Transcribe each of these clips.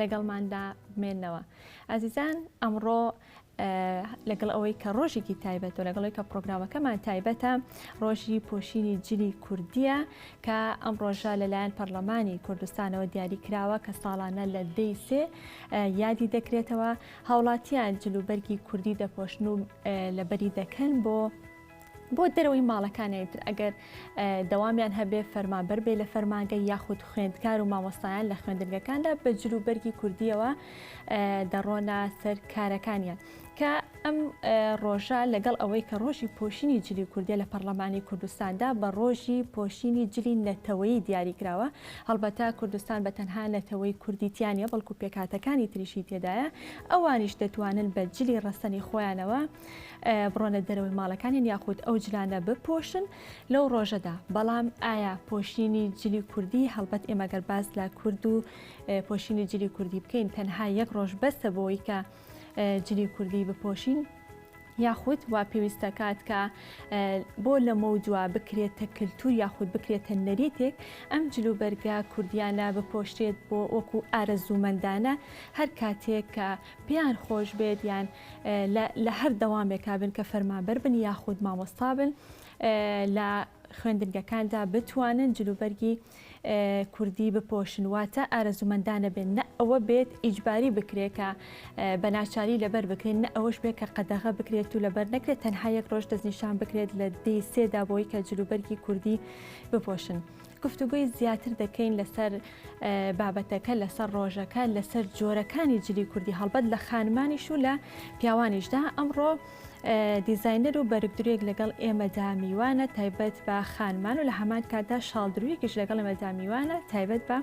لەگەڵماندا بمێنەوە ئازیزان ئەمڕۆ لەگەڵ ئەوەی کە ڕۆژێکی تایبەت و لەگەڵی کە پرۆگرامەکەمان تایبەتە ڕۆژی پۆشینی جلی کوردیە کە ئەم ڕۆژە لەلایەن پەرلەمانی کوردستانەوە دیاری کراوە کە ساڵانە لە دەی سێ یادی دەکرێتەوە هاوڵاتیان جلوبەرگی کوردی دەپۆشن و لەبەری دەکەن بۆ بۆ دەرەوەی ماڵەکانیانی تر ئەگەر دەوامیان هەبێ فەرمابەر بێ لە فەرماگە یاخود خوێندکار و مامۆستایان لە خوێندنگەکاندا بە جل و بەرگی کوردیەوە دەڕۆنا سەر کارەکانیان کە ئەم ڕۆژە لەگەڵ ئەوەی کە ڕۆژی پۆشینی جلی کوردە لە پەرلەمانی کوردستاندا بە ڕۆژی پۆشینی جلی نەتەوەی دیاریکراوە هەڵبەتا کوردستان بە تەنها نەتەوەی کوردیتیانە بەڵکو پێکاتەکانی تریشی تێدایە ئەوانیش دەتوانن بە جلی ڕەسەنی خۆیانەوە بڕۆنە دەرەوەی ماڵەکانیان یاخود ئەو جلانە بپۆشن لەو ڕۆژەدا بەڵام ئایا پۆشینی جلی کوردی هەڵبەت ئێمە گەر باز لە کورد و پۆشینی جلی کوردی بکەین تەنها یەک ڕۆژ بەسە بۆی کە جلی کوردی بپۆشین یاخود وا پێویستە کات کە بۆ لەمە و دوا بکرێتە کللتور یاخود بکرێتە نەریتێک ئەم جلوبەرگە کوردیانە بپۆشتێت بۆ وەکو ئارەزوومەندانە هەر کاتێک کە پێیان خۆش بێت یان لە هەر دەوامێکا بن کە فەرمانبەر بن یاخود مامۆستا بن لە خوێندنگەکاندا بتوانن جلوبەرگی کوردی بپۆشن واتە ئارەزومەندانە بێن نە ئەوە بێت ئیجباری بکرێت کە بە ناچاری لەبەر بکرێن نە ئەوەش بێت کە قەدەغە بکرێت و لەبەر نەکرێت تەنها یەک ڕۆژ دەستنیشان بکرێت لە دی سێدا بۆی کە جلوبەرگی کوردی بپۆشن. گفتوگۆی زیاتر دەکەین لەسەر بابەتەکە لەسەر ڕۆژەکە لەسەر جۆرەکانی جلی کوردی هەڵبەت لە خانمانیش و لە پیاوانیشدا ئەمڕۆ دیزینەر و بەرگدرێک لەگەڵ ئێمەدا میوانە تایبەت بە خانمان و لە هەمان کاتدا شاڵدرویەکیش لەگەڵ ئێمەدا میوانە تایبەت بە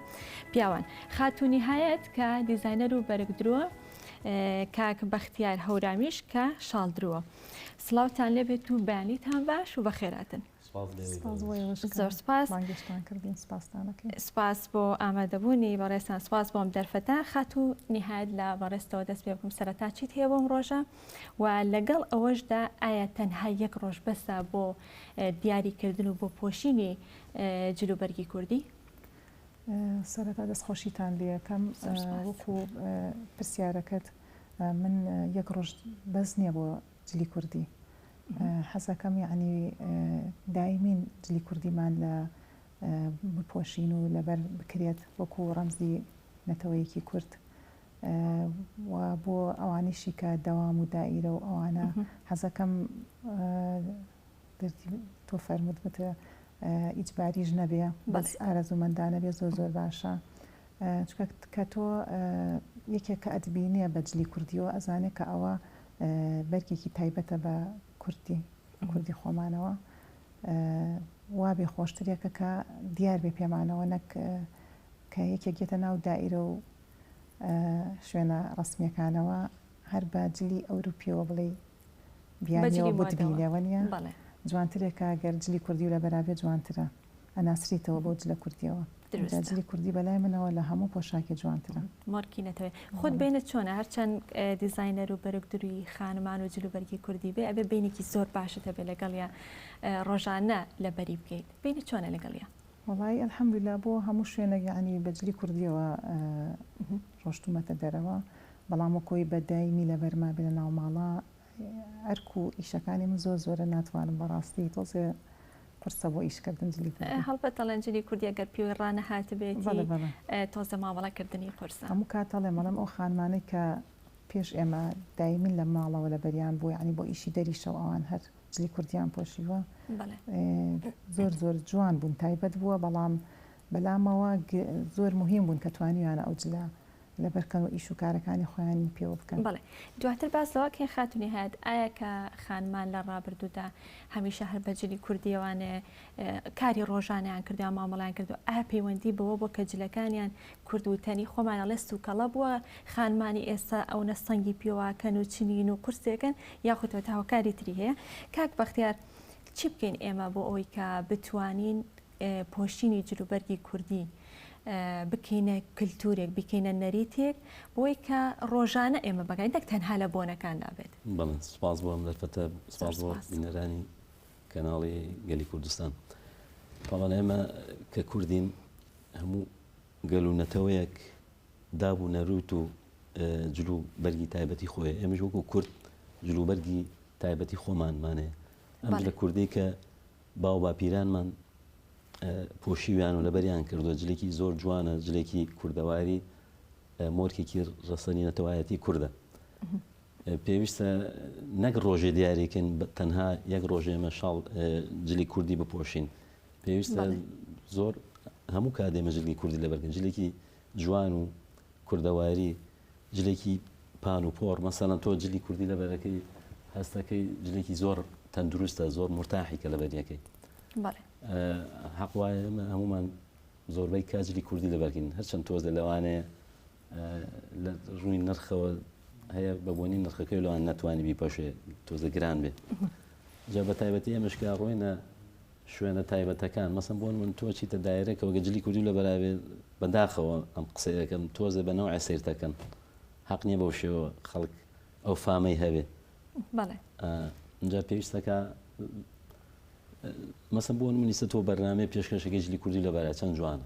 پیاوان خاتونی هاەت کە دیزینەر و بەرگدرووە کاک بەختیار هەورامیش کە شاڵدرووە سلااوان لێبێت و بەیانیتان باش و بەخێراتن. سپاس لێوەی بەڕێز. زۆر سپاس. بانگێشتان کردین سپاستان ئەکەین. سپاس بۆ ئامادەبوونی بەڕێزتان. سپاس بۆ ئەم دەرفەتە. خاتوو نیهاد لە بەڕێزتەوە دەست پێ بکەم. سەرەتا چیت هەیە بۆ ئەم ڕۆژە؟ و لەگەڵ ئەوەشدا ئایا تەنها یەک ڕۆژ بەسە بۆ دیاری کردن و بۆ پۆشینی جلوبەرگی کوردی؟ سەرەتا دەست خۆشیتان لێ ئەکەم. زۆر سپاس. وەکوو پرسیارەکەت من یەک ڕۆژ بەس نییە بۆ جلی کوردی حەزەکەم یەعنی دایمین جلی کوردیمان لە بپۆشین و لەبەر بکرێت وەکو ڕەمزی نەتەوەیەکی کورد و بۆ ئەوانیشی کە دەوام و دائیرە و ئەوانە حەزەکەم تۆ فەرموت بتە ئیجباریش نەبێ بەس ئارەزومەندانە بێ زۆر زۆر باشە چکە کە تۆ یەکێک کە ئەدبینێ بەجلی کوردیەوە ئەزانێت کە ئەوە بەرگێکی تایبەتە بە کوردی کوردی خۆمانەوە وابێ خۆشترێکە کە دیار بێ پێمانەوە نەک کە یەکێک گێتە ناو دائیرە و شوێنە ڕسمیەکانەوە هەر بە جلی ئەوروپیەوە بڵێ بیانەوە بتبینەوە نیە جوانترێکە گەر جلی کوردی لە بەرابێ جوانترە ئەناسریتەوە بەو جلە کوردیەوە جا جلی کوردی بەلای منەوە لە هەموو پۆشاکێ جوانترە مۆرکی نەتەوێ خۆت بینت چۆنە هەرچەند دیزاینەر و بەرگ دروی خانمان و جل و بەرگی کوردی بێ ئەبێ بینێکی زۆر باشت هەبێ لەگەڵیا ڕۆژانە لەبەری بکەیت بینت چۆنە لەگەڵیا وەڵایی الحمدللە بۆ هەموو شوێنێک یعنی بە جلی کوردیەوە ڕۆشتومەتە دەرەوە بەڵام وەکۆی بە دایمی لەبەرمابێ لە ناو ماڵا ئەرک و ئیشەکانی من زۆر زۆرە ناتوانم بەڕاستی تۆزێ قورسە بۆ ئیش کردن جلی کوردی. هەڵبەت دەڵێن جلی کوردی گەر پێوەی ڕانەهاتبێتی تۆزە مامەڵە کردنی قورسە. هەموو کات ئەڵێم ئەڵێم ئەو خانمانەی کە پێش ئێمە دایمین لە ماڵەوە لە بەریان بوو یعنی بۆ ئیشی دەریشەوە ئەوان هەر جلی کوردیان پۆشیوە زۆر زۆر جوان بوون تایبەت بووە بەڵام بەلامەوە زۆر مهم بوون کە توانیویانە ئەو جلە لەبەرکەن و ئیش و کارەکانی خۆیانی پێوە بکەن. بەڵێ دواتر باس لەوە کەین خاتونی هەیات ئایا کە خانمان لە ڕابردوودا هەمیشە هەر بە جلی کوردیەوانێ کاری ڕۆژانەیان کردیان مامەڵیان کردو ئایا پەیوەندی بەوە بۆ کە جلەکانیان کورد وتەنی خۆمان ئەڵێ سوکەڵە بووە خانمانی ئێستا ئەونە سەنگی پیواکەن و چنین و قورسێکن یاخودەوە تا هۆکاری تری هەیە کاک بەختیار چی بکەین ئێمە بۆ ئەوەی کە بتوانین پۆشینی جلوبەرگی کوردی بکەینە کللتورێک بیکەینە نەریتێک بۆی کە ڕۆژانە ئێمە بەگای دەک تەنها لە بۆنەکاندا بێت سپاس بۆم دەرفەتە سپاس بۆ بینەرانی کەناڵی گەلی کوردستان پاڵان ئێمە کە کوردین هەموو گەل و نەتەوەیەک داب و نەروت و جلو بەرگی تایبەتی خۆی ئێمەش وەکو کورد جلوبەرگی تایبەتی خۆمانمانێ ئەم لە کوردی کە باوباپیرانمان پۆشیویان و لەبەریان کردووە، جلێکی زۆر جوانە، جلێکی کوردەواری، مۆرکێکی ڕەسەنی نەتەوایەتی کوردە. پێویستە نەک ڕۆژێ دیاریکەین تەنها یەک ڕۆژێ ئێمە شاڵ جلی کوردی بپۆشین، پێویستە زۆر هەموو کات ئێمە جلی کوردی لەبەر بکەین، جلێکی جوان و کوردەواری جلێکی پان و پۆڕ مەسەلەن تۆ جلی کوردی لەبەرەکەی هەستەکەی جلێکی زۆر تەندروستە زۆر مرتاحی کە لەبەریەکەی حەق وایە هەمومان زۆربەی کاجلی کوردی لەبەرکەین هەرچەند تۆز لەوانەیە لە ڕووی نرخەوە هەیە بەبوونی نرخەکەی لەوان ناتوانانی بیپەشێ تۆزە گران بێت جا بە تایبەتی ئێمەشکە ڕۆینە شوێنە تایبەتەکان مەسەن بۆن من تۆ چیتە دایرە کەەوەگە جلی کوردی لە بەراێ بەداخەوە ئەم قسەیەکەم تۆزێ بە نەوە سیرتەکەم حەق نییە بەو شێوە خەڵک ئەو فامەی هەبێ اینجا پێویستەکە مەسە بۆن منیسە تۆ بەرنامەی پێشکەشەکەی جلی کوردی لە بەرا چەند جوانە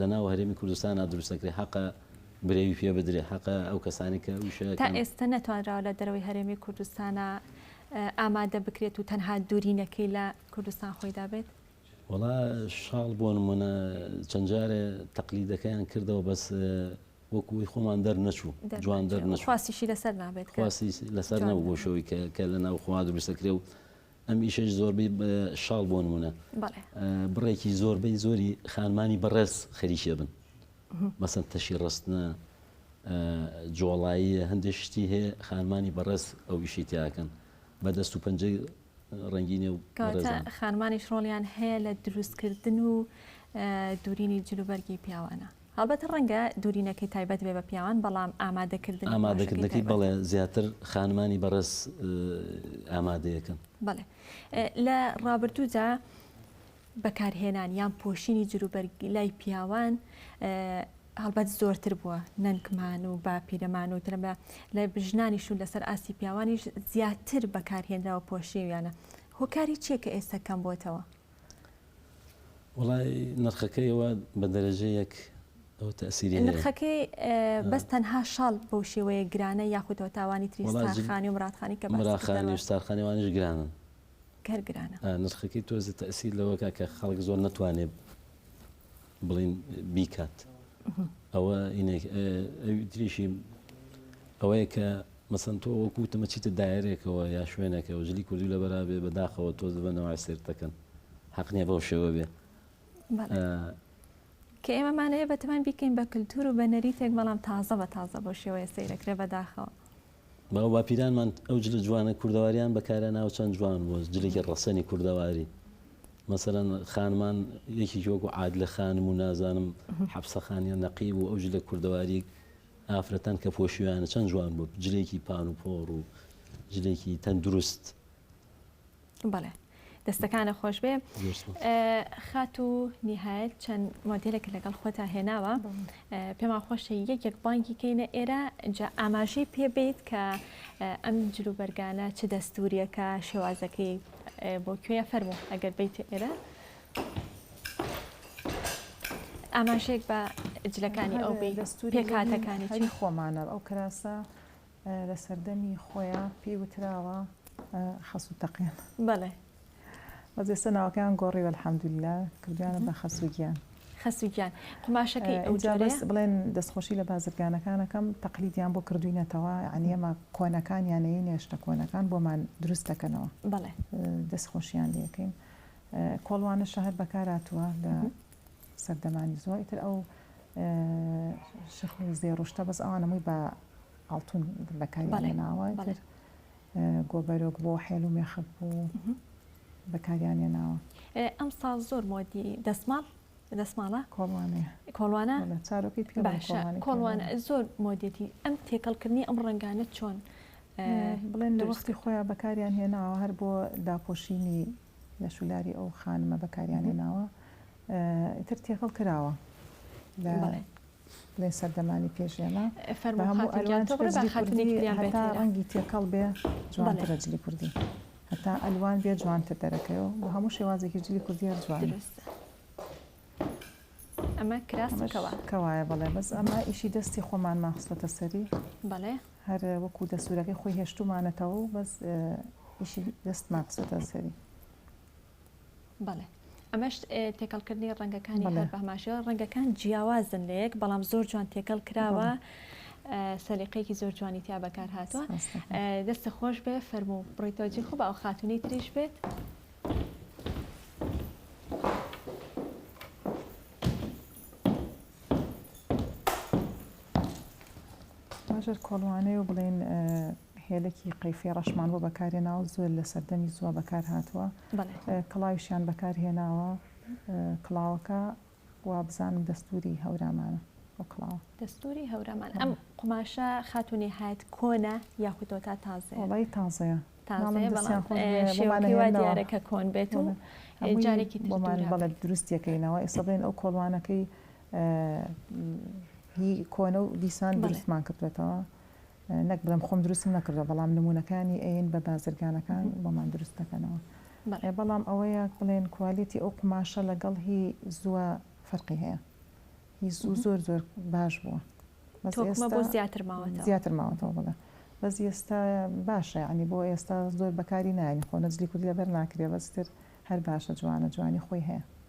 لە ناو هەرێمی کوردستانا دروست دەکرێت هەقە برەوی پێ بدرێت هەقە ئەو کەسانی کە ویشە تا ئێستە نەتوانراوە لە دەرەوەی هەرێمی کوردستانە ئامادە بکرێت و تەنها دوورینەکەی لە کوردستان خۆی دابێت وڵا شاڵ بۆ نمونە چەند جارێ تەقلیدەکەیان کردەوە بەس وەکوی خۆمان دەر نەچوو جوان دەر نەخواسیشی لەسەر نابێت خواسی لەسەر نەبوو بۆ شەوەی کە لە ناو خوا دروستەکرێ و ئەم ئیشەش زۆربەی شاڵ بۆ نمونە بڕێکی زۆربەی زۆری خانمانی بەڕێز خەریکێ بن مەسەن تەشی ڕستنە جۆڵاییە هەندێک شتی هەیە خانمانی بەڕێز ئەو ئیشی تیاکەن بەدەست و پەنجە ڕنگینێ و خانمانی شڕۆڵیان هەیە لە دروستکردن و دوورینی جلوبەرگی پیاوانە هەڵبەت ڕەنگە دورینەکەی تایبەت بێ بە پیاوان بەڵام ئامادەکردن و پاشەکەی تایبەتە. ئامادەکردنەکەی بەڵێ زیاتر خانمانی بەڕێز ئامادەیەکن. بەڵێ لە ڕابردوودا بەکارهێنان یان پۆشینی جلوبەرگ لای پیاوان هەڵبەت زۆرتر بووە نەنکمان و باپیرەمان و ترمە لە ژنانیش و لەسەر ئاستی پیاوانیش زیاتر بەکارهێنراوە پۆشێویانە هۆکاری چیە کە ئێستا کەم بۆتەوە؟ وەڵا نرخەکەی ئەوە بە دەرەجە یەک ئەوە تەئسیری هەیە. نرخەکەی بەس تەنها شاڵ بەو شێوەیە گرانە یاخود ئەوە تاوانی تری وەڵا جد ستارخانی و مڕاتخانی کە باسی کردەوە؟ مراخانی و ستارخانی ئەوانیش گرانن. گەر گرانە. ئا نرخەکەی تۆزێ تەئسیر لەوە کا کە خەڵک زۆر نەتوانێ. بڵین بیکات ئەوە تریشی ئەوەیە کە مەسن تۆ وەکو تەمە چیتە دایرێکەوە یا شوێنەکە و جلی کوردی لە بەرابێ بەداخەوە تۆ دبنەوە سێر دەکەن حەقنیە بەو شێوە بێ کە ئێمەمانەیە بەتەمان بیکەین بە کللتور و بە نەریتێک بەڵام تازە بە تازە بۆ شێوەیە سیرەکرێ بەداخەوە باوباپیرانمان ئەو جلە جوانە کوردەواریان بەکارهێناوە چەند جوان بووە جلێکی ڕەسەنی کوردەواری مەسەرەن خانمان یەکێکی وەکو عادلە خانم و نازانم حەفسە خانیان نەقی بوو ئەو جلە کوردەواری ئافرەتان کە پۆشیویانە چەند جوان بوو جلێکی پان و پۆڕ و جلێکی تەندروست بەڵێ دەستەکانە خۆش بێ خات و نیهایت چەند مۆدیلێک لەگەڵ خۆتا هێناوە پێما خۆشە یەکێک بانکی کەینە ئێرە جا ئاماژەی پێ بیت کە ئەم جلوبەرگانە چ دەستوریەکە شێوازەکەی بۆ کوێە فەرمو ئەگەر بیت ئێرە ئاماژێک بە جلەکانی ئەو بی دەستوری پێکاتەکانی چی خۆمانە ئەو کراسە لە سەردەمی خۆیان پێی وتراوە خەس و تەقێن. بەڵێ. بەس ئێستا ناوەکەیان گۆڕیوە الحمدللە کردویانە بە خەس و گیان. خەس و گیان. قوماشەکەی ئەو جا بەس بڵێن دەستخۆشی لە بازرگانەکانەکەم تەقلیدیان بۆ کردوینەتەوە یانی ئەمە کۆنەکان یانەیە نێشتە کۆنەکان بۆمان دروست دەکەنەوە. بەڵێ. دەستخۆشیان لێ ئەکەین. کۆڵوانە شە هەر بەکار هاتووە لە سەردەمانی زۆر ئیتر ئەو شخڵ و زێڕ و شتە بەس ئەوانەمووی بە ئاڵتون بەکاریان هێناوە ئیتر گۆبەرۆک بۆ حێل و مێخەب بوو بەکاریان هێناوە ئەم ساڵ زۆر مۆدی دەسماڵ دەسماڵە کۆڵوانێ کۆڵوانە لە چارۆکی پێ باشە کۆڵوان زۆر مۆدێتی ئەم تێکەڵکردنی ئەم ڕنگانە چۆن بڵێن لە وەختی خۆیان بەکاریان هێناوە هەر بۆ داپۆشینی لەشولاری ئەو خانمە بەکاریان هێناوە ئیتر تێکەڵ کراوە لە بڵێ سەردەمانی پێش ئێمە هەتا ڕەنگی تێکەڵ بێ جوانترە جلی کوردی هەتا ئەلوان بێ جوانتر دەرەکەەوە بە هەموو شێوازێکی جلی کوردی هەر جوان ئەمە کراسەکەەوە کەوایە بەڵێ بەس ئەمە ئیشی دەستی خۆمان ماخستۆتە سەری بەڵێ هەر وەکو دەستورەکەی خۆی هێشتومانەتەوە و بەس ئیشی دەستمان خستۆتە سەری. بەڵێ ئەمەش تێکەڵ کردنی ڕەنگەکانی هەر بەماشەوە ڕەنگەکان جیاوازن لە یەک بەڵام زۆر جوان تێکەڵ کراوە سەلیقەیەکی زۆر جوانی تیا بەکار هاتووە دەستە خۆش بێ فەرموو بڕیتەوە جی خۆ بە ئەو خاتونی تریش بێت. مەجەر کۆڵوانێ و بڵێین هێلەکی قەیفەی ڕەشمان بۆ بەکارێناوە زۆر لە سەردەمی زووە بەکار هاتووە کڵاویشیان بەکارهێناوە کڵاوەکە وابزانم دەستوری هەورامانە وکڵاوە دەستوری هەورامان ئەم قوماشە خاتونی هاات کۆنە یاخودۆ تا تازە وڵی تازەیە دیارەکە کۆن بێت و جارێکی بۆمان بەڵێ دروستەکەینەوە ئێستا بڵێن ئەو کۆڵوانەکەی هی کۆنە و دیسان دروستمان کردووەتەوە نەک بڵێم خۆم دروستم نەکردووە بەڵام نموونەکانی ئەین بە بازرگانەکان بۆمان دروست دەکەنەوە بەڵام ئەوەیە بڵێن کوالێتی ئەو قوماشە لەگەڵ هی زووە فەرقی هەیە هی زوو زۆر زۆر باش بووە زیاتر ماوەتەوە بڵێ بەس ئێستا باشە ینی بۆ ئێستا زۆر بەکاری نانی خۆ نەجلی کوردی لەبەر ناکرێ بەستر هەر باشە جوانە جوانی خۆی هەیە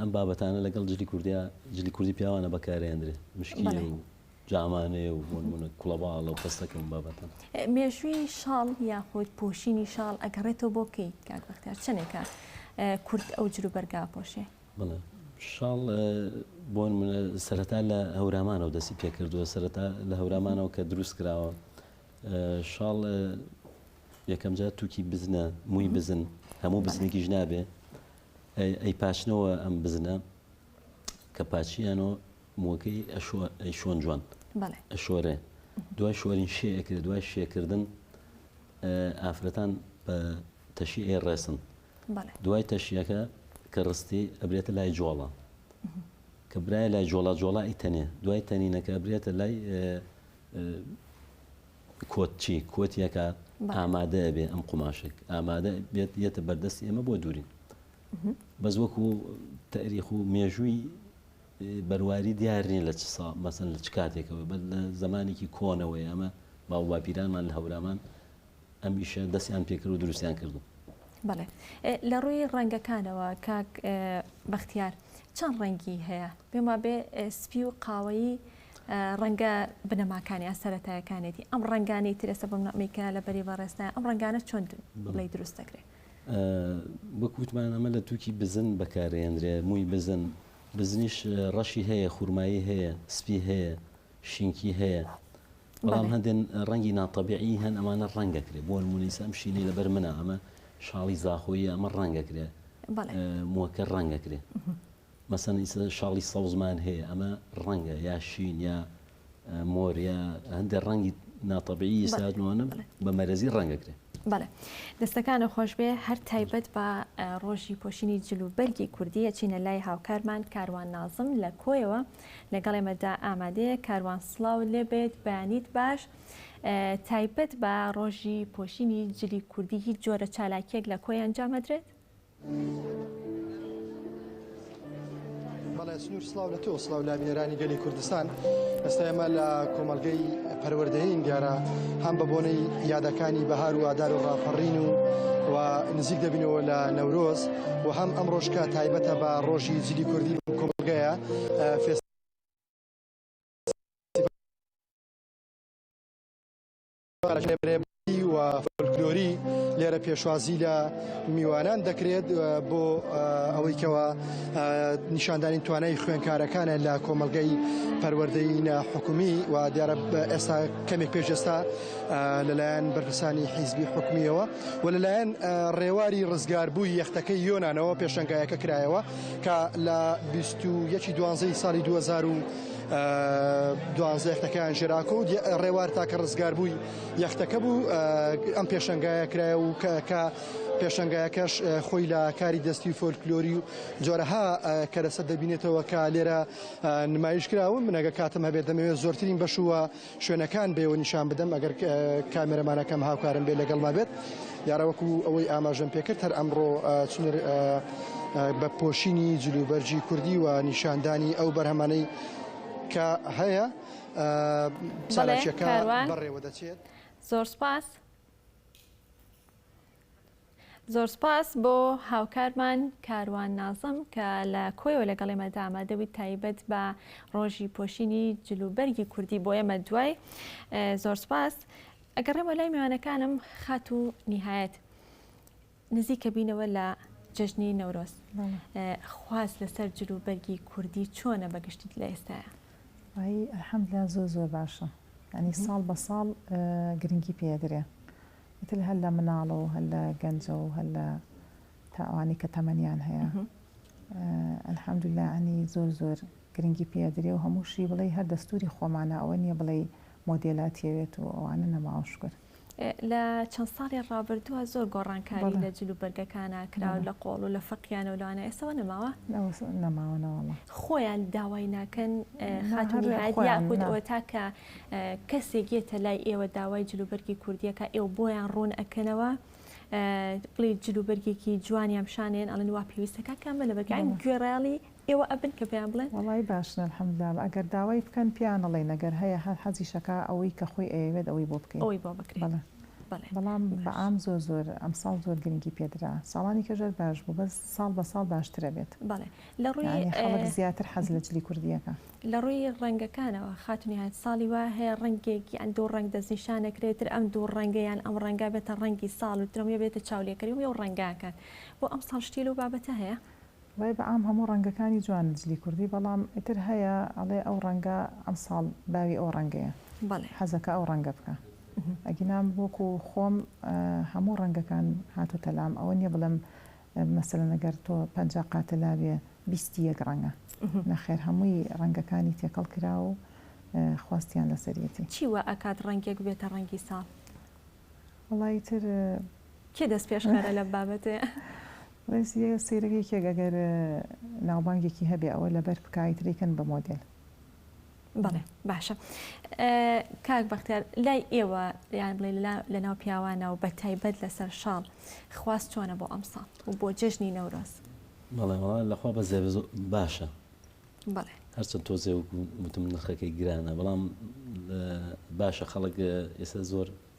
ئەم بابەتانە لەگەڵ جلی کوردیا جلی کوردی پیاوانە بەکارێندرێ مشکی و جامانەیە و بۆنمونە کوڵەباڵە و پستەکەم بابەتە مێژووی شاڵ یاخود پۆشینی شاڵ ئەگەڕێتەوە بۆ کەی کاک بەختیار چەندێکە کورد ئەو جلو بەرگا پۆشێ بڵێ شاڵ بۆن منە سەرەتا لە هەورامانەوە دەستی پێکردووە سەرەتا لە هەورامانەوە کە دروست کراوە شاڵ یەکەمجار تووکی بزنە مووی بزن هەموو بزنێکیش نابێ ئەی پاچنەوە ئەم بزنە کە پاچیانۆ موەکەی ئەشۆن جوان ئەشۆرێ دوای شۆرین شێ ئەکرێت دوای شێکردن ئافرەتان بە تەشی ئەی ڕێسن دوای تەشیەکە کە ڕستی ئەبرێتە لای جۆڵە کە برای لای جۆڵا جۆڵای تەنێ دوای تەنینەکە ئەبرێتە لای کۆت چی کۆت یەکە ئامادە بێ ئەم قوماشێک ئامادە بێت یەتە بەردەست ئێمە بۆ دوورین بەس وەکو تاریخ و مێژووی بەرواری دیارنی لە چ سا مەسن لە چ کاتێکەوە بە لە زمانێکی کۆنەوەی ئەمە باو باپیرانمان لە هەورامان ئەمیشە دەستیان پێکرد و دروستیان کردو بڵێ لە ڕووی ڕەنگەکانەوە کاک بەختیار چەند ڕەنگی هەیە پێما بێ سپی و قاوەیی ڕەنگە بنەماکان یا سەتایەکانێتی ئەم ڕنگانەی ترەسە بم نەمیکە لە بەری بەڕێستای ئەم ڕنگانە چۆن بڵی دروست دەکرێت وەکوتمان ئەمە لە تووکی بزن بەکارێنرێ مووی بزن بزنیش ڕەشی هەیە خورمایی هەیە سپی هەیە شینکی هەیە بەڵام هەندێن ڕەنگی ناتەبیعی هەن ئەمانە ڕەنگەکرێ بۆ نمونەی سام شینەی لەبەر منە ئەمە شاڵی زاخۆیی ئەمە ڕەنگەکرێ مووەکە ڕەنگەکرێ مەسەن ئیسە شاڵی سەوزمان هەیە ئەمە ڕەنگە یا شین یا مۆر یا هەندێک ڕەنگی ناتەبیی سادوانە بە مەرەزی ڕەنگەکرێ بەڵێ دەستەکانە خۆش بێ هەر تایبەت بە ڕۆژی پۆشینی جلوبەرگی کوردیە چینە لای هاوکارمان کاروان نازم لە کۆیەوە لەگەڵێ مەدا ئامادەیە کاروان سلااو لێبێت بەیانیت باش تایبەت بە ڕۆژی پۆشینی جلی کوردی هیچ جۆرە چالاکیەک لە کۆی ئەنجامەدرێت بەڵێ سنوور سلااو لە تۆ سلااو لا بینەرانی گەلی کوردستان ئێستا ئێمە لە کۆمەلگەی پەروەردەین دیارە هەم بە بۆنەی یادەکانی بەهار و ئادار و ڕاپەڕین و و نزیک دەبینەوە لە نەورۆز و هەم ئەم ڕۆژکە تایبەتە بە ڕۆژی جلی کوردی کۆمەلگەیە فێست ڕێبەری و فۆلکلۆری لێرە پێشوازی لە میوانان دەکرێت بۆ ئەوەیکەوە نیشاندانی توانای خوێنکارەکانە لە کۆمەلگەی پەروەردەی ناحکومی و دیارە ئێستا کەمێک پێشێستا لەلایەن بەرپرسانی حیزبی حکومیەوە و لەلایەن ڕێواری ڕزگاربووی یەختەکەی یۆنانەوە پێشنگایەکە کرایەوە کە لە 21 دوانزەی ساڵی 2000 دوانزە یەختەکەیان ژێراکۆ و ڕێوار تاکە ڕزگاربووی یەختەکە بوو ئەم پێشنگایە کرایە و کە پێشنگایەکەش خۆی لە کاری دەستی و فۆلکلۆری و جۆرەها کەرەسە دەبینێتەوە کە لێرە نمایش کراون منەگە کاتم هەبێت دەمەوێت زۆرترین بەشووە شوێنەکان بێوە نیشان بدەم ئەگەر کامێرەمانەکەم هاوکارم بێت لەگەڵما بێت یارە وەکو ئەوەی ئاماژەم پێکرد هەر ئەمڕۆ چنر بە پۆشینی جلوبەرجی کوردی و نیشاندانی ئەو بەرهەمانەی کە هەیە چالاکیەکە بەڕێوە دەچێت زۆر سپاس. زۆر سپاس بۆ هاوکارمان کاروان نازم کە لە کۆیەوە لەگەڵ ئێمەدا ئامادەبووی تایبەت بە ڕۆژی پۆشینی جلوبەرگی کوردی بۆ ئێمە دوای زۆر سپاس ئەگەڕێمە لای میوانەکانم خات و نهایەت نزیکە بینەوە لە جژنی نەورۆز خواست لەسەر جلوبەرگی کوردی چۆنە بەگشتیت لە ئێستاە ئەحەمد لە زۆر زۆر باشە ئەنی ساڵ بە ساڵ گرنگی پێدرێ ئیتر هەر لە مناڵ و هەر لە گەنجە و هەر لە تا ئەوانەی کە تەمەنیان هەیە الحەمدللە عنی زۆر زۆر گرنگی پێ ئەدرێ و هەمووشی بڵێی هەر دەستووری خۆمانە ئەوە نییە بڵێی مۆدێلات یەوێت و ئەوانە نەماوە شوکر لە چەند ساڵی ڕابردووە زۆر گۆڕانکاری بەڵێ. لە جل و بەرگەکانە کراو بەڵێ. لە قۆڵ و لە فەقیانە و لەوانە ئێسەوە نەماوە نەوەس نەماوە نەوەڵا. خۆیان داوای ناکەن نا، خاتونی هەر هایت خۆیان یاخود نا. ئەوەتا کە کەسێک یەتە لای ئێوە داوای جلوبەرگی کوردی ئەکا ئێوە بۆیان ڕوون ئەکەنەوە بڵی جلوبەرگێکی جوانیان شانێن ئەڵن وا پێویستە کا کامە لە بەکان گوێڕایاڵی ئێوە ئەبن کە پێیان بڵێن وڵی باشن الحمدلام ئەگەر داوای بکەن پێیان ئەڵێن ئەگەر هەیە هەر حەزی شەکا ئەوەی کە خۆی ئەیەوێت ئەوەی بۆ بکەین ئەوەی بۆ بکرێت بەڵام بەعام زۆر زۆر ئەم ساڵ زۆر گرنگی پێدرا ساڵانی کەژەر باش بوو بەس ساڵ بە ساڵ باشترە بێت بەڵێ لە ڕووی زیاتر حەز لە جلی کوردیەکە لە ڕووی ڕەنگەکانەوە خاتونی هایت ساڵی وا هەیە ڕەنگێک یان دوو ڕەنگ دەست نیشان دەکرێت تر ئەم دوو ڕەنگە یان ئەم ڕەنگە بێتە ڕەنگی ساڵ و درەوە بێتە چاولێکەری و ڕەنگاکان بۆ ئەم ساڵ شتی لەو بابەتە هەیە؟ وای بە عام هەموو ڕەنگەکانی جوانن جلی کوردی بەڵام ئیتر هەیە ئەڵێ ئەو ڕەنگە ئەم ساڵ باوی ئەو ڕەنگەیە بەڵێ حەزەکە ئەو ڕەنگە بکا ئەگینا وەکو خۆم هەموو ڕەنگەکان هاتۆتە لام ئەوە نیە بڵێم مەسەلەن ئەگەر تۆ پەنجا قاتە لاوێ بیستی یەک ڕەنگە نەخێر هەمووی ڕەنگەکانی تێکەڵ کرا و خواستیان لەسەریەتی. چی وا ئەکات ڕەنگێک بێتە ڕەنگی ساڵ؟ وەڵایی تر کێ دەست پێشخەرە لەم بابەتەیە؟ بەس یە سەیرەگەی کێک ئەگەر ناوبانگێکی هەبێ ئەوە لەبەر بکایت لێکەن بە مۆدێل. بەڵێ باشە کاک بەختیار لای ئێوە یان بڵێ لە ناو پیاوانە و بە تایبەت لەسەر شاڵ خواست چۆنە بۆ ئەمساڵ و بۆ جەژنی نەورۆز بەڵێ لەخوا بە زێ باشە بەڵێ هەرچەند تۆزێ وتم نرخەکەی گرانە بەڵام باشە خەڵک ئێستا زۆر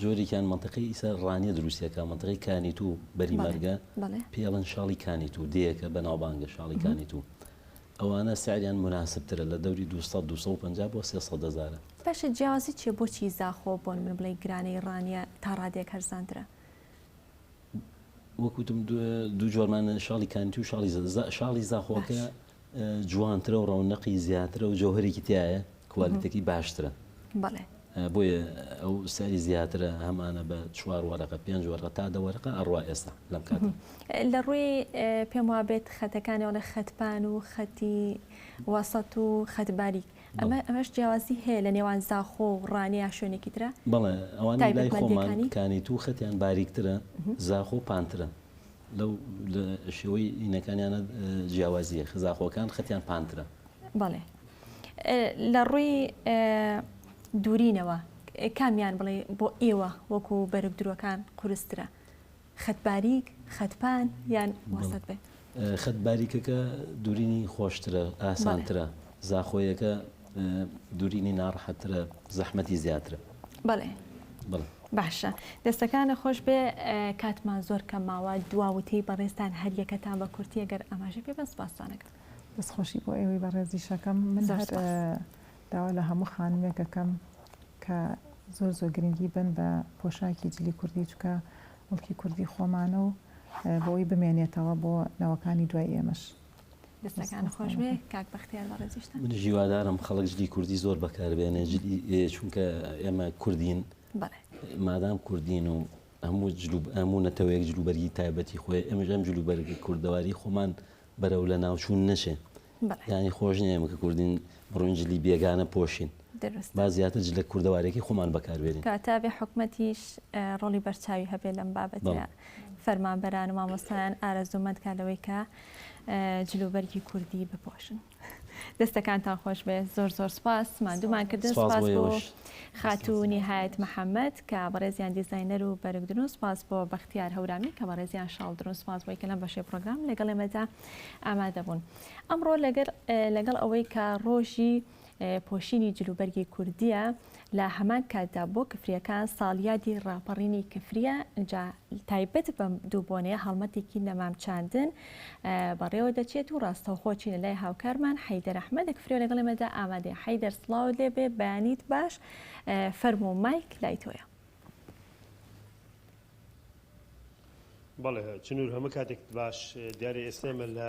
جۆرێکیان مەنتەقەی ئیسە ڕانیە دروستی ئەکا مەنتەقەی کانیتو بەری مەرگە پێی ئەڵێن شاڵی کانیتو دێیەکە بەناوبانگە شاڵی کانیتو ئەوانە سعریان موناسبترە لە دەوری دوو سەد دوو سەد و پەنجا بۆ سێ سەد هەزارە. باشە جیاوازی چیە بۆچی زاخۆ بۆنمونە بڵێی گرانەی ڕانیە تاڕادەیەک هەرزانترە؟ وەک وتم دوو جۆرمان شاڵی کانتی و شاڵی شاڵی زاخۆکە جوانترە و ڕەونەقی زیاترە و جۆهرێکی تایە کوالتەکەی باشترە بۆیە ئەو سەری زیاترە هەمانە بە چوار وەرەقە پێنج وەرقە تا دە وەرقە ئەڕوا ئێستا لەم کات لە ڕووی پێم وابێت خەتەکانی وڵە خەتپان و خەتی وەسەت و خەتباری ئەمە ئەمەش جیاوازی هەیە لە نێوان زاخۆ و ڕانێ یا شوێنێکی ترە؟ بەڵێ ئەوانەی لای خۆمان کانی تو خەتیان باریکترە زاخۆ پانترە لەو لە شێوەی ئینەکانیانە جیاوازیە خزاخۆکان خەتیان پانترە بەڵێ لە ڕووی دوورینەوە کامیان بڵێ بۆ ئێوە وەکو بەرگ درۆکان قورسترە خەت باریک، خەت پان یان وەسەت بێ. خەت باریکەکە دورینی خۆشترە، ئاسانترە. زاخۆیەکە دورینی ناڕەحەتترە، زەحمەتی زیاترە. بەڵێ. بەڵێ. باشە. دەستەکانت خۆش بێ کاتمان زۆر کەم ماوە، دوا وتەی بەڕێزتان هەر یەکەتان بە کورتی گەر ئاماژەی پێ بەن سپاستان ئەکەم. دەست خۆشی بۆ ئێوەی بەڕێزیش ئەکەم. من هەر داوا لە هەموو خانمێک ئەکەم کە زۆر زۆر گرنگی بەن بە پۆشاکی جلی کوردی چکە وڵکی کوردی خۆمانە و بۆی بمێنێتەوە بۆ نەوەکانی دوای ئێمەش دەستەکان خۆش بێ کاک بەختیار بە ڕێزیشتە من ژیوادارم خەڵک جلی کوردی زۆر بەکاربێنێ جلی چونکە ئێمە کوردین مادام کوردین و هەموو جلوب ئەموو نەتەوەیەک جلوبەرگی تایبەتی خۆی ئەمژەم جلوبەرگی کوردەواری خۆمان بەرەو لەناوچوون نەچێ یانی خۆش نیە ئێمە کە کوردین بڕۆین جلی بێگانە پۆشین با زیاتر جلە کوردەوارێکی خۆمان بەکاربێنین کاتابێ حکومەتیش ڕۆڵی بەرچاوی هەبێ لەم بابەت فەرمانبەران و مامۆستایان ئارەزومەندکە لەوەی کە جلوبەرگی کوردی بپۆشن دەستەکانتان خۆش بێ زۆر زۆر سپاس مادومان کردن سپاس بۆ خاتوو نیهایەت محەمەد کە بەڕێزیان دیزاینەر و بەرگدروون سوپاس بۆ بەختیار هەورامی کە بەڕێزیان شاڵدروون سوپاس بۆی کە لەم بەشەی پڕۆگرام لەگەڵ ئێمەدا ئامادە بوون ئەمڕۆ لەگەر لەگەڵ ئەوەی کە ڕۆژی پۆشینی جلوبەرگی کوردیە لە هەمان کاتدا بۆ کفریەکان ساڵیادی ڕاپەڕینی کفریە جا تایبەت بەم دوو بۆنەیە هەڵمەتێکی نەمام چاندن بەڕێوە دەچێت و ڕاستەوخۆ چینە لای هاوکارمان حەیدەر ئەحمەدێک فرێ لەگەڵ ئێمەدا ئامادەیە حەیدەر سڵاوت لێ بێ بەیانیت باش فەرمو و مایک لای تۆیە بەڵێ چنور هەمە کاتێکت باش دیارە ئێستێمە لە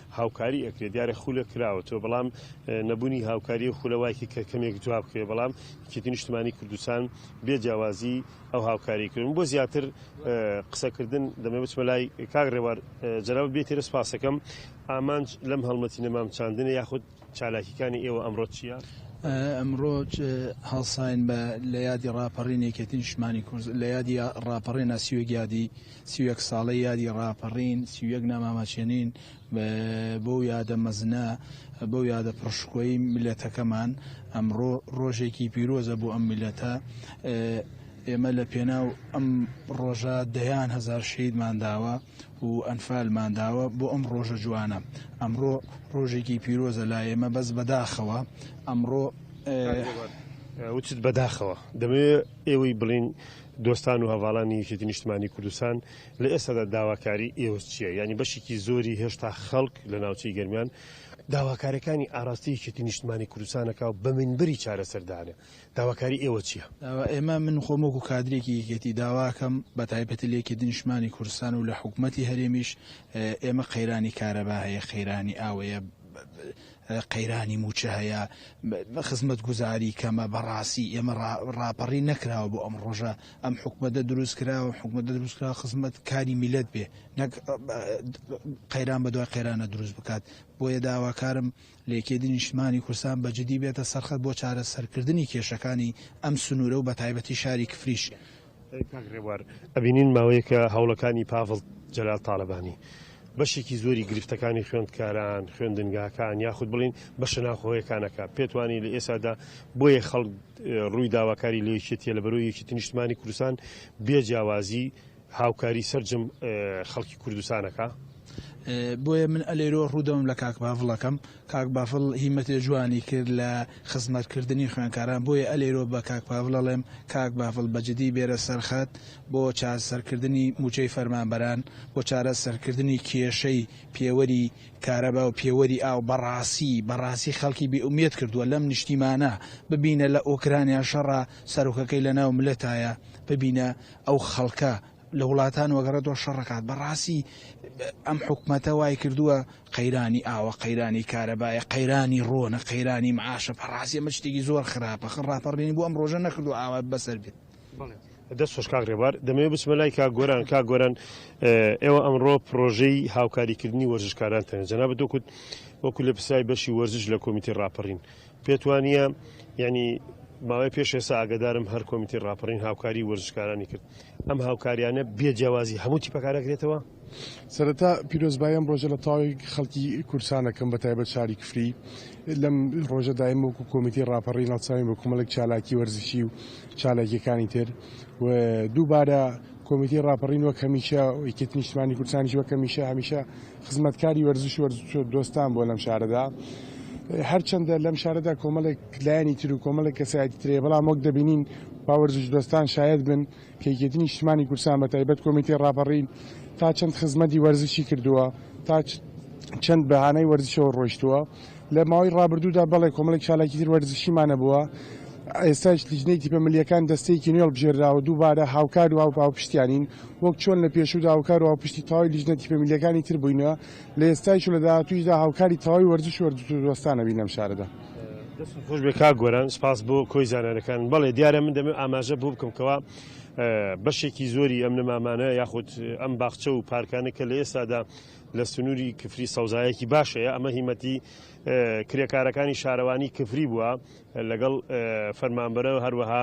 هاوکاری ئەکرێ دیارە خولە کراوەتەوە بەڵام نەبونی هاوکاری و خولە وایکرد کە کەمێک جواب کرێ بەڵام یەکێتی نیشتمانی کوردستان بێ جیاوازی ئەو هاوکاری کردن بۆ زیاتر قسەکردن دەمێ بچمە لای کاک ڕێوار جەناب بێ تێرە سپاسەکەم ئامانج لەم هەڵمەتی نەمام چاندنە یاخود چالاکیەکانی ئێوە ئەمڕۆ چییە؟ ئەمڕۆ هەڵساین بە لە یادی ڕاپەڕینێکێتی نیشتمانی کورد لە یادی ڕاپەڕێ ناسیوەک یادی سی و یەک ساڵەی یادی ڕاپەڕین، سی و یەک نامامە چێنین بەو یادە مەزنە، بەو یادە پڕ شکۆی میللەتەکەمان. ئەمڕۆ ڕۆژێکی پیرۆزە بۆ ئەم میللەتە. ئێمە لە پێناو ئەم ڕۆژە دەیان هەزار شەهیدمان داوە و ئەنفالمان داوە بۆ ئەم ڕۆژە جوانە. ئەمڕۆ ڕۆژێکی پیرۆزە لای ئێمە بەس بەداخەوە ئەمڕۆ. کاک ڕێبەر وتت بەداخەوە، دەمەوێت ئێوەی بڵێن، دۆستان و هەڤاڵانی یەکێتی نیشتمانی کوردستان لە ئێستادا داواکاری ئێوە چیە؟ یانی بەشێکی زۆری هێشتا خەڵک لە ناوچەی گەرمیان داواکاریەکانی ئاراستەی یەکێتی نیشتمانی کوردستان ئەکا و بە مینبەری چارەسەر دانێ، داواکاری ئێوە چیە؟ ئەوە ئێمە من خۆم وەکو کادرێکی یەکێتی داواکەم بە تایبەتی لە یەکێتی نیشتمانی کوردستان و لە حکومەتی هەرێمیش ئێمە قەیرانی کارەبا هەیە قەیرانی ئاو هەیە، قەیرانی مووچە هەیە، خزمەتگوزاری کەمە، بەڕاستی ئێمە ڕاپەڕین نەکراوە بۆ ئەم ڕۆژە، ئەم حکومەتە دروست کراوە، حکومەتە دروست کراوە خزمەت کاری میللەت بێ نەک قەیران بە دوای قەیرانە دروست بکات، بۆیە داواکارم لە یەکێتی نیشتمانی کوردستان بە جدی بێتە سەرخەت بۆ چارەسەرکردنی کێشەکانی ئەم سنوورە و بەتایبەتی شاری کفریش. کاک ڕێبوار، ئەبینین ماوەیەکە هەوڵەکانی پاڤڵ جەلال تاڵەبانی، بەشێکی زۆری گرفتەکانی خوێندکاران، خوێندنگاکان یاخود بڵێین بەشە ناوخۆیەکانەکە، پێتوانی لە ئێستادا بۆیە خەڵک ڕووی داواکاری لە یەکێتییە لە بەرۆی یەکێتی نیشتمانی کوردستان بێ جیاوازی هاوکاری سەرجم خەڵکی کوردستانەکا؟ بۆیە من ئەلێرۆ ڕوو دەمم لە کاک پاڤڵ ئەکەم، کاک بافڵ هیمەتێ جوانی کرد لە خزمەت کردنی خوێنکاران بۆیە ئەلێرۆ بە کاک پاڤل ئەڵێم کاک بافڵ بە جدی بێرە سەر خەت بۆ چارسەر کردنی موچەی فەرمانبەران بۆ چارە سەر کردنی کێشەی پێوەری کارەبا و پێوەری ئاو بەڕاسی بەڕاسی خەڵکی بێ ئومێد کردوە لەم نیشتیمانە ببینە لە ئۆکرانیا شەڕە سەرۆکەکەی لە ناو ملەتایە ببینە ئەو خەڵکە لە وڵاتان وەگەڕێتەوە شەڕەکات بەڕاسی ئەم حکومەتە وای کردوە قەیرانی ئاوە قەیرانی کارەبایە قەیرانی ڕۆنە قەیرانی معاشە پەڕاسی ئەمە شتێکی زۆر خراپە خە ڕاپەڕینی بۆ ئەم ڕۆژە نەکردو ئاوا بەسەر بێت. دەست خۆش کاک ڕێبار دەمەوێت بچمە لای کاک گۆران کاک گۆران ئێوە ئەمڕۆ پڕۆژەی هاوکاریکردنی وەرزشکارانتان جەنابت وەکوت وەکو لە پرسای بەشی وەرزش لە کۆمیتی ڕاپەڕین پێت وانیە یانی ماوەی پێش ئێسا ئاگدارم هەر کۆمیتی ڕاپەڕین هاوکاری وەرزشکارانی کرد ئەم هاوکاریانە بێ جیاوازی هەموو تیپەکانەکرێتەوە سەرەتا پیرۆزبایم ڕۆژە لە تاوی خەڵکی کورسانەکەم بە تایبەت شاری کفری لەم ڕۆژە دایم وەکو کۆمیتی ڕاپەڕی ناوچوین بە کومەڵک چالاکی وەرزشی و چالاکیەکانی تر و دووبارە کۆمیتی ڕاپەڕین وەک هەمیشە یکێت نیشتمانی کورسانیش وەک هەمیشە هەمیشە خزمەتکاری وەرزش و وەرزشە دۆستان بووە لەم شارەدا. هەرچەندە لەم شارەدا کۆمەڵێک لایەنی تر و کۆمەڵێک کەسایەتی ترەیە، بەڵام وەک دەبینین با وەرزش دۆستان شایەت بن کە یەکێتی نیشتمانی کوردستان بە تایبەت کۆمیتەی ڕاپەڕین تا چەند خزمەتی وەرزشی کردووە، تا چەند بەهانای وەرزشەوە ڕۆیشتووە. لە ماوەی ڕابردوودا بەڵێ کۆمەڵێک چالاکی تر وەرزشیمان هەبووە، ئێستاش لیژنەی تیپە ملییەکان دەستەیەکی نوێ هەڵبژێردراوە، دووبارە هاوکار و هاوپشتیانین، وەک چۆن لە پێشوودا هاوکار و هاوپشتی تەواوی لیژنە تیپە ملییەکانی تر بووینە، لە ئێستایش و لە داهاتوویشدا هاوکاری تەواوی وەرزش و وەرزشدۆستان ئەبین لەم شارەدا. دەستت خۆش بێت کاک گۆران، سپاس بۆ کۆی زانیاریەکانت، بەڵێ دیارە من دەمەوێت ئاماژە بەوە بکەم کەوا بەشێکی زۆری ئەم نەمامانە یاخود ئەم باخچە و پارکانە کە لە ئێستادا لە سنووری کفری سەوزایەکی باش هەیە، ئەمە هیمەتی کرێکارەکانی شارەوانی کفری بووە لەگەڵ فەرمانبەرە، هەروەها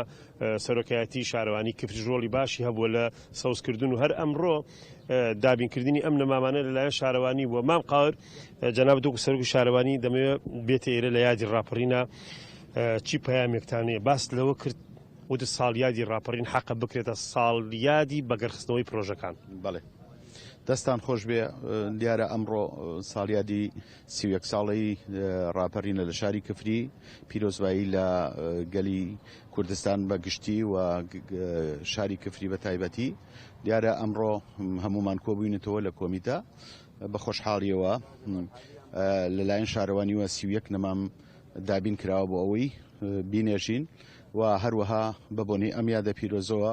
سەرۆکایەتی شارەوانی کفری ڕۆڵی باشی هەبووە لە سەوزکردن و هەر ئەمڕۆ دابینکردنی ئەم نەمامانە لەلایەن شارەوانی بووە. مام قاور جەناب دوک سەرۆکی شارەوانی دەمەوێت بێتە ئێرە لە یادی ڕاپەڕینە چی پەیامێکتان هەیە؟ باس لەوە کرد وتی ساڵیادی ڕاپەڕین حەقە بکرێتە ساڵیادی بەگەڕخستنەوەی پرۆژەکان. بەڵێ. دەستتان خۆش بێ، دیارە ئەمڕۆ ساڵیادی سی و یەک ساڵەی ڕاپەرینە لە شاری کفری، پیرۆزبایی لە گەلی کوردستان بە گشتی و شاری کفری بە تایبەتی، دیارە ئەمڕۆ هەموومان کۆبووینەتەوە لە کۆمیتە، بە خۆشحاڵیەوە لەلایەن شارەوانیوە سی و یەک نەمام دابین کراوە بۆ ئەوەی بینێژین و هەروەها بە بۆنەی ئەم یادە پیرۆزەوە،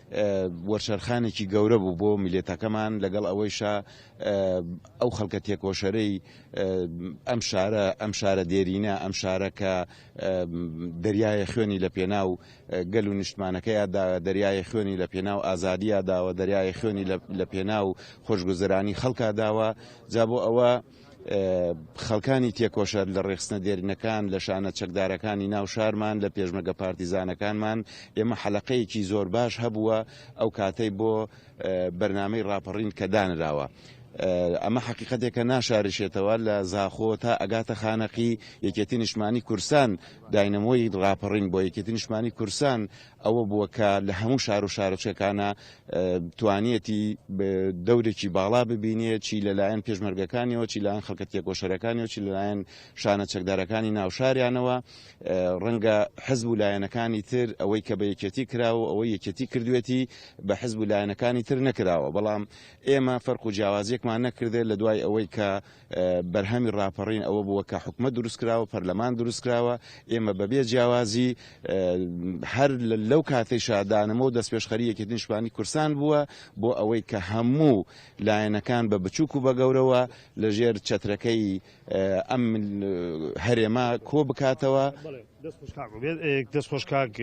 وەرچەرخانێکی گەورە بوو بۆ میللەتەکەمان لەگەڵ ئەوەیشا ئەو خەڵکە تێکۆشەرەی ئەم شارە ئەم شارە دێرینە ئەم شارە کە دەریایە خوێنی لە پێناو گەل و نیشتمانەکەیە دەریایە خوێنی لە پێناو ئازادیە داوە دەریایە خوێنی لە پێناو خۆشگوزەرانی خەڵکە داوە جا بۆ ئەوە خەڵکانی تێکۆشەر لە ڕێخستنە دێرینەکان لە شانە چەکدارەکانی ناو شارمان لە پێشمەگە پارتیزانەکانمان ئێمە حەلەقەیەکی زۆر باش هەبووە ئەو کاتەی بۆ بەرنمەی ڕاپەڕین کە دانراوە. ئەمە حقیقەتێکە ناشارشێتەوە لە زاخۆ تا ئەگاتە خانەقی یەکێتی نیشمانی کورسان داینەمۆی ڕاپەڕین بۆ یەکێتی نیشمانی کورسان ئەوە بووە کە لە هەموو شار و شارۆچکەکانە توانیەتی دەورێکی باڵا ببینێت چی لەلایەن پێشمەرگەکانیەوە چی لایەن خەڵکە تێکۆشەرەکانی و چی لەلایەن شانە چەکدارەکانی ناوشاریانەوە ڕەنگە حزب و لایەنەکانی تر ئەوەی کە بە یەکێتی کراوە ئەوەی یەکێتی کردوێتی بە حزب و لایەنەکانی تر نەکراوە بەڵام ئێمە فەرق و جیاوازیەکمان نەکردێت لە دوای ئەوەی کە بەرهەمی ڕاپەڕین ئەوە بووە کە حکومەت دروستکراوە پەرلەمان دروستکراوە ئێمە بەبێ جیاوازی هەر لەو کاتەی شادانەمە و دەستپێشخەری یەکێتی نیشتمانی کورسان بووە بۆ ئەوەی کە هەموو لایەنەکان بە بچووک و بە گەورەوە لەژێر چەترەکەی ئەم هەرێما کۆ بکاتەوە دەست خۆش کاک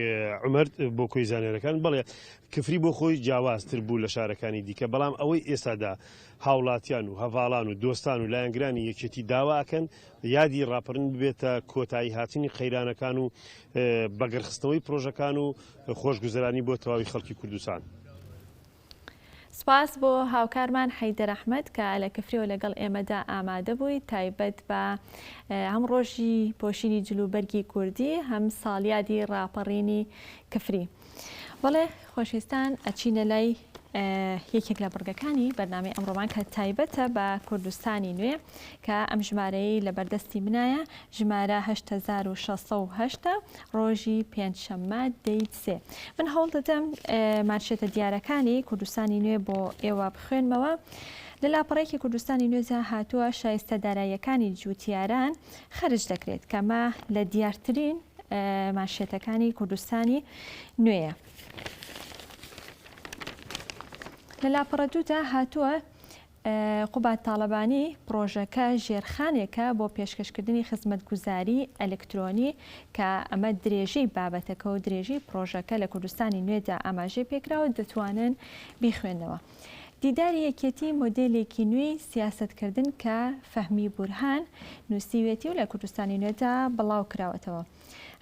عمرد بۆ کۆی زانێرەکان بڵێ کفری بۆ خۆی جیاوازتر بوو لە شارەکانی دیکە بەڵام ئەوەی ئێستادا هاوڵاتیان و هەڤاڵان و دۆستان و لایەنگرانی یەکێتی داوا ئەکەن یادی ڕاپەڕین ببێتە کۆتایی هاتنی قەیرانەکان و بەگەڕخستنەوەی پرۆژەکان و خۆشگوزەرانی بۆ تەواوی خەڵکی کوردستان. سپاس بۆ هاوکارمان حەیدەر ئەحمەد کە لە کفریەوە لەگەڵ ئێمەدا ئامادە بووی تایبەت بە هەم ڕۆژی پۆشینی جلوبەرگی کوردی هەم ساڵیادی ڕاپەڕینی کفری. بەڵێ خۆشویستان ئەچینە لای یەکێک لە بڕگەکانی بەرنامی ئەمڕۆمان کە تایبەتە بە کوردستانی نوێ کە ئەم ژمارەیە لە بەردەستی منایە ژمارە 1960 ڕۆژی پێنجشەممە دەیت سێ من هەوڵ دەدەم ماچێتە دیارەکانی کوردستانی نوێ بۆ ئێوە بخوێنمەوە. لە لاپەڕێکی کوردستانی نوێزە هاتووە شایستە داراییەکانی جووتیاران خەرج دەکرێت کەمە لە دیارترین مانشێتەکانی کوردستانی نوێیە. لە لاپەڕە دوودا هاتووە، قوباد تاڵەبانی، پڕۆژەکە ژێرخانێکە بۆ پێشکەشکردنی خزمەتگوزاریی ئەلکترۆنی، کە ئەمە درێژەی بابەتەکە و درێژەی پڕۆژەکە لە کوردستانی نوێدا ئاماژەی پێکراوە، دەتوانن بیخوێننەوە. دیداری یەکێتی مۆدێلێکی نوێی سیاسەتکردن کە فەهمی بورهان نووسیوێتی و لە کوردستانی نوێدا بڵاوکراوەتەوە.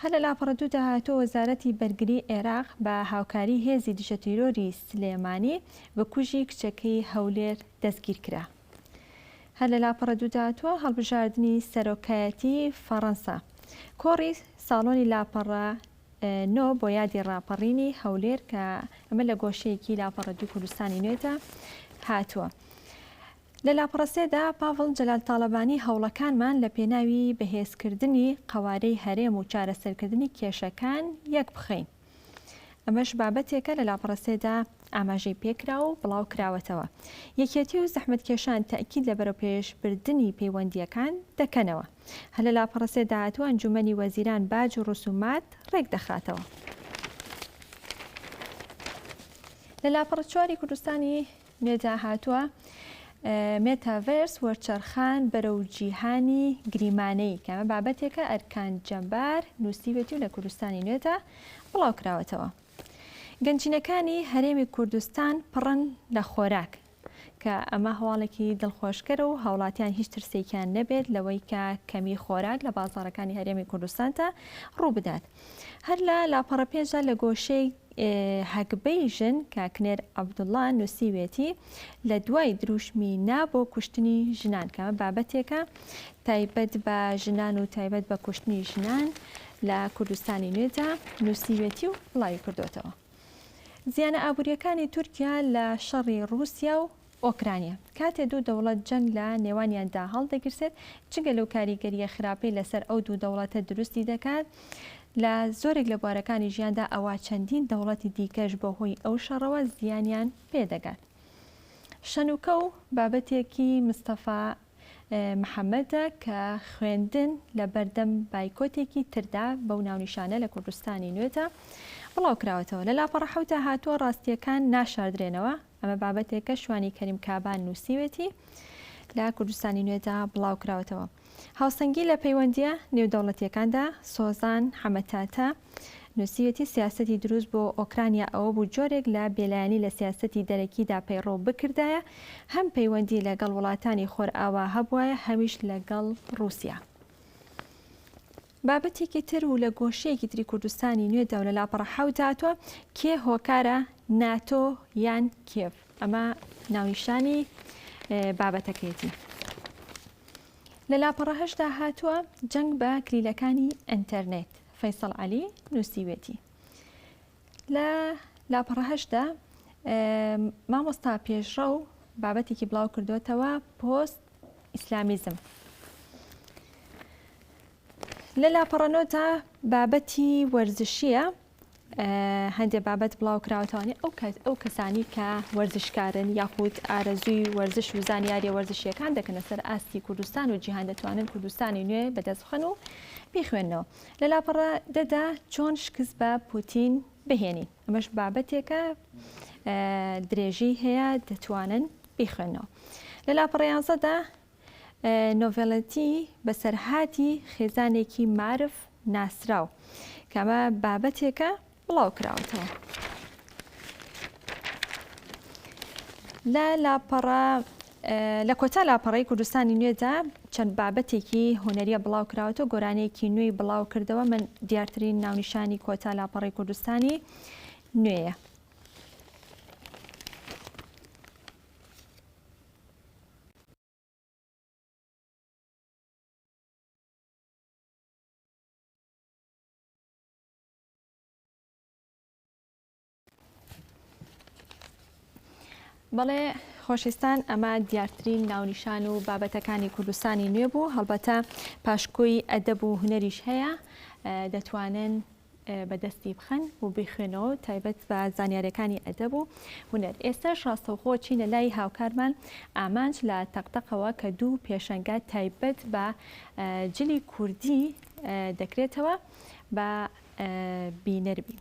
هەر لە لاپەڕە دوودا هاتووە وەزارەتی بەرگری عێراق بە هاوکاری هێزی دژەتیرۆری سلێمانی بکوژی کچەکەی هەولێر دەستگیرکرا. هەر لە لاپەڕە دوودا هاتووە هەڵبژاردنی سەرۆکایەتیی فەڕەنسا کۆڕی ساڵۆنی لاپەڕە نۆ بۆ یادی ڕاپەڕینی هەولێر کە ئەمە لە گۆشەیەکی لاپەڕە دوو کوردستانی نوێدا هاتووە. لە لاپەڕەسێدا پاڤڵ جەلال تاڵەبانی هەوڵەکانمان لە پێناوی بەهێزکردنی قەوارەی هەرێم و چارەسەرکردنی کێشەکان یەک بخەین. ئەمەش بابەتێکە لە لاپەڕەسێدا ئاماژەی پێکرا و بڵاو کراوەتەوە. یەکێتی و زەحمەتکێشان تەکید لە بەرەوپێشبردنی پەیوەندیەکان دەکەنەوە. هەر لە لاپەڕە سێ داهاتوو ئەنجوومەنی وەزیران باج و ڕسومات ڕێک دەخاتەوە. لە لاپەڕە چواری کوردستانی نوێدا هاتووە مێتاڤێرس وەرچەرخان بەرەو جیهانی گریمانەی کەمە بابەتێکە ئەرکان جەمبار نووسیوێتی و لە کوردستانی نوێدا بڵاو کراوەتەوە. گەنجینەکانی هەرێمی کوردستان پڕن لە خۆراک کە ئەمە هەواڵێکی دڵخۆشکەرە و هاوڵاتیان هیچ ترسێکیان نەبێت لەوەی کە کەمی خۆراک لە بازاڕەکانی هەرێمی کوردستانتا ڕووبدات هەر لە لاپەڕە پێنجدا لە گۆشەی هەگبەی ژن کاکنێر عەبدوڵا نووسیوێتی لە دوای دروشمی نا بۆ کوشتنی ژنان کە بابەتێکە تایبەت بە ژنان و تایبەت بە کوشتنی ژنان لە کوردستانی نوێدا نووسیوێتی و بڵاوی کردوێتەوە. زیانە ئابوورییەکانی تورکیا لە شەڕی ڕووسیا و ئۆکرانیا، کاتێ دوو دەوڵەت جەنگ لە نێوانیاندا هەڵدەگیرسێت، جگە لەو کاریگەرییە خراپەی لەسەر ئەو دوو دەوڵەتە دروستی دەکات لە زۆرێک لە بوارەکانی ژیاندا، ئەوا چەندین دەوڵەتی دیکەش بە هۆی ئەو شەڕەوە زیانیان پێدەگات. شەنوکە و بابەتێکی مستەفا محەمەدە کە خوێندن لە بەردەم بایکۆتێکی تردا بەو ناونیشانە لە کوردستانی نوێدا بڵاوکراوەتەوە لە لاپەڕە حوتە هاتووە ڕاستیەکان ناشاردرێنەوە ئەمە بابەتێکە شوانی کەریم کابان نووسیوێتی لە کوردستانی نوێدا بڵاوکراوەتەوە هاوسەنگی لە پەیوەندیە نێودەوڵەتیەکاندا سۆزان حەمەتاتە نووسیویەتی سیاسەتی دروست بۆ ئۆکرانیا ئەوە بوو جۆرێک لە بێلایەنی لە سیاسەتی دەرەکیدا پەیڕەو بکردایە، هەم پەیوەندی لەگەڵ وڵاتانی خۆرئاوا هەبوایە هەمیش لەگەڵ ڕووسیا. بابەتێکی تر و لە گۆشەیەکی تری کوردستانی نوێ دا و لە لاپەڕە حەوت دا هاتووە، کێ هۆکارە، ناتۆ یان کیێڤ؟ ئەمە ناونیشانی بابەتەکەیەتی. لە لاپەڕە هەشت دا هاتووە، جەنگ بە کلیلەکانی ئینتەرنێت. فەیسەڵ عەلی نووسیوێتی لە لاپەڕە هەشتدا مامۆستا پێشڕەو بابەتێکی بڵاو کردوێتەوە پۆست ئیسلامیزم لە لاپەڕەنۆدا بابەتی وەرزشیە هەندێ بابەت بڵاوکراوەتەوەانی ئەو کەسانی کە وەرزشکارن یاخود ئارەزووی وەرزش و زانیاریە وەرزشیەکان دەکەنە سەر ئاستی کوردستان و جیهان دەتوانن کوردستانی نوێ بەدەستخن و بیخوێنەوە لە لاپەڕە دەدا چۆن شکست بە پوتین بهێنین ئەمەش بابەتێکە درێژی هەیە دەتوانن بیخوێنەوە لە لاپەڕیانزەدا نۆڤێڵتی بەسەرهاتی خێزانێکی مارف ناسراو کەمە بابەتێکە بڵاو کراوەتەوە لە لاپەڕە لە کۆتا لاپەڕی کوردستانی نوێدا چەند بابەتێکی هوەریە بڵاو کراوەەوە گۆرانێکی نوێی بڵاو کردەوە من دیارترین ناونیشانی کۆتا لاپەڕی کوردستانی نوێیە. بەڵێ خۆشستان ئەمە دیارترین ناونیشان و بابەتەکانی کوردستانی نوێ بوو هەڵبەتە پاشکۆی ئەدەب و هوەریش هەیە دەتوانن بەدەستی بخەن و بیخوێنەوە و تایبەت بە زانیاریەکانی ئەدەب و هونەر ئێستاش ڕاستەوخۆ چینە لای هاوکارمان ئامانج لە تەقتەقەوە کە دوو پێشەنگە تایبەت بە جلی کوردی دەکرێتەوە بە بینەر بین.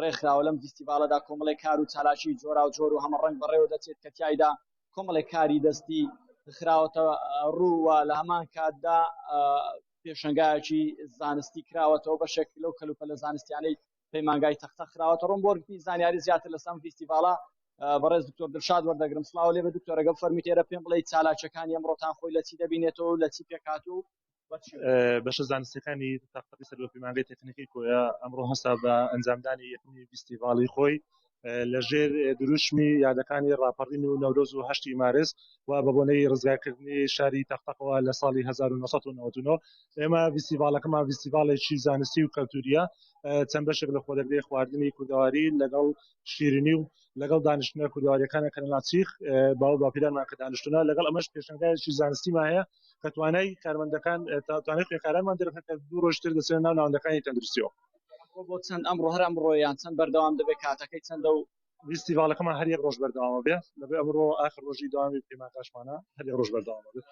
ڕێکخراوە لەم فیستیڤاڵەدا کۆمەڵێک کار و چالاکی جۆراوجۆر و هەمە ڕەنگ بەڕێوە دەچێت کە تیایدا کۆمەڵێک کاری دەستی خراوەتە ڕوو و لە هەمان کاتدا پێشنگایەکی زانستی کراوەتەوە بەشێک لەو کەلوپە لە زانستیانەی پەیمانگای تەختە خراوەتە ڕۆم بۆرگی زانیاری زیاتر لە سام فیستیڤاڵە بەڕێز دکتۆر دڵشاد وەردەگرم سلااو لێ بە دکتۆرەگە فەرمیتێرە پێم بڵێ چالاچەکانی ئەمڕۆتان خۆی لە چی دەبینێتەوە لە چی پێکاتوو بەشە زانستەکانی تاقەتی سەر بە پەیمانگەی تەکنەکەی کۆیە ئەمڕۆ هەستا بە ئەنجامدانی یەکمی بیستیڤاڵی خۆی لە ژێر دروشمی یادەکانی راپەڕین و نەورۆز و هەشتی مارس و بە بۆنەی ڕزگارکردنی شاری تەختەقەوە لە ساڵی 1990 ئێمە ویسیڤالەکەمان ویسیڤالێکی زانستی و کەلتوریە چەند بەشێک لە خۆدەگرێ خواردنی کوردەواری لەگەڵ شیرنی و لەگەڵ دانیشتنە کوردەواریەکانە کە ناچیخ باو باپیرانمان کە دانیشتنا لەگەڵ ئەمەش پێشنگایکی زانستیمان هەیە کە توانای کارمەندەکان توانای خوێنکارانمان دەرخە کە دوو ڕۆژ تر دەچێنە ناو ناوەندەکانی تەندروستیەوە بۆ چەند ئەمڕۆ هەر ئەمڕۆ یان چەند بەردەوام دەبێت کاتەکەی چەندە و فیستیڤاڵەکەمان هەر یەک ڕۆژ بەردەوامە بێ لەبێ ئەمڕۆ ئاخر ڕۆژی داوامی پەیمانگاشمانە هەر یەک ڕۆژ بەردەوامە بێت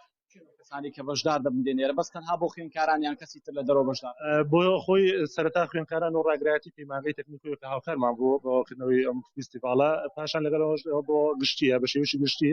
کەسانی کە بەشدار دەبن دێنێرە بەس تەنها بۆ خوێنکاران یان کەسی تر لە دەرەوە بەشدار بۆ خۆی سەرەتا خوێنکاران و ڕاگرایەتی پەیمانگەی تەکنیکۆی کە هاوکارمان بۆ بەوەکردنەوەی ئەم فیستیڤاڵە پاشان لەگەڵەوەش بۆ گشتیە بە شێوشی گشتی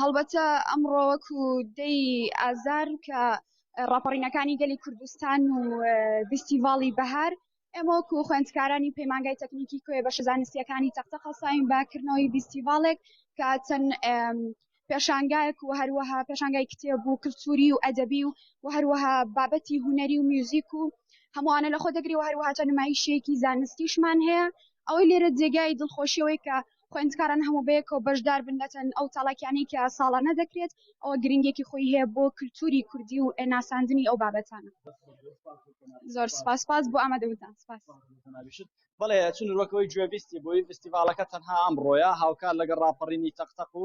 هەڵبەتە ئەمڕۆ وەکو دەی ئازار کە ڕاپەڕینەکانی گەلی کوردستان و فیستیڤاڵی بەهار ئەمەوەکو خوێندکارانی پەیمانگای تەکنیکی کوێ بە شزانستیەکانی تەختە خەساین باکردنەوەی بیستیڤالێک کە چەند پێشانگایەک و هەروەها پێشانگای کتێب و کللتوری و ئەدەبی و و هەروەها بابەتی هوەری و میوزیک و هەمووانە لە خۆ دەگری و هەروهاتە نمایشێکی زانستیشمان هەیە ئەوەی لێرە جێگای دڵخۆشیەوەی کە خوێندکاران هەموو بەیەکەوە بەشدار بن لەچەند ئەو چاڵاکیانەی کە ساڵانە دەکرێت ئەوە گرنگێکی خۆی هەیە بۆ کلتوری کوردی و ناساندنی ئەو بابەتانە. زۆر سپاس سپاس بۆ ئامادەبوونتان سپاس. بەڵێ چونر وەکەوەی گوێبیستی بووی فستیڤاڵەکە تەنها ئەمڕۆیە هاوکات لەگەڵ ڕاپەڕینی تەق تەق و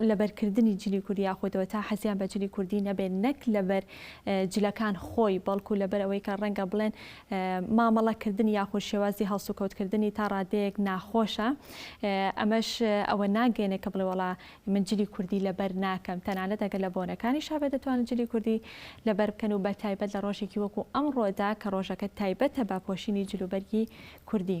لەبەر کردنی جلی کوردی یاخودەوە تا حەزیان بە جلی کوردی نەبێت نەک لەبەر جلەکان خۆی بەڵکو لەبەر ئەوەی کە ڕەنگە بڵێن مامەڵە کردنی یاخود شێوازی هەڵسوکەوت کردنی تا ڕادەیەک ناخۆشە ئەمەش ئەوە ناگەێنێ کە بڵێ وڵا من جلی کوردی لەبەر ناکەم تەنانەت ئەگەر لە بۆنەکانی شابێت دەتوانن جلی کوردی لەبەر بکەن و بە تایبەت لە ڕۆژێکی وەکو ئەم ڕۆدا کە ڕۆژەکە تایبەتە بە پۆشینی جلوبەرگی کوردی.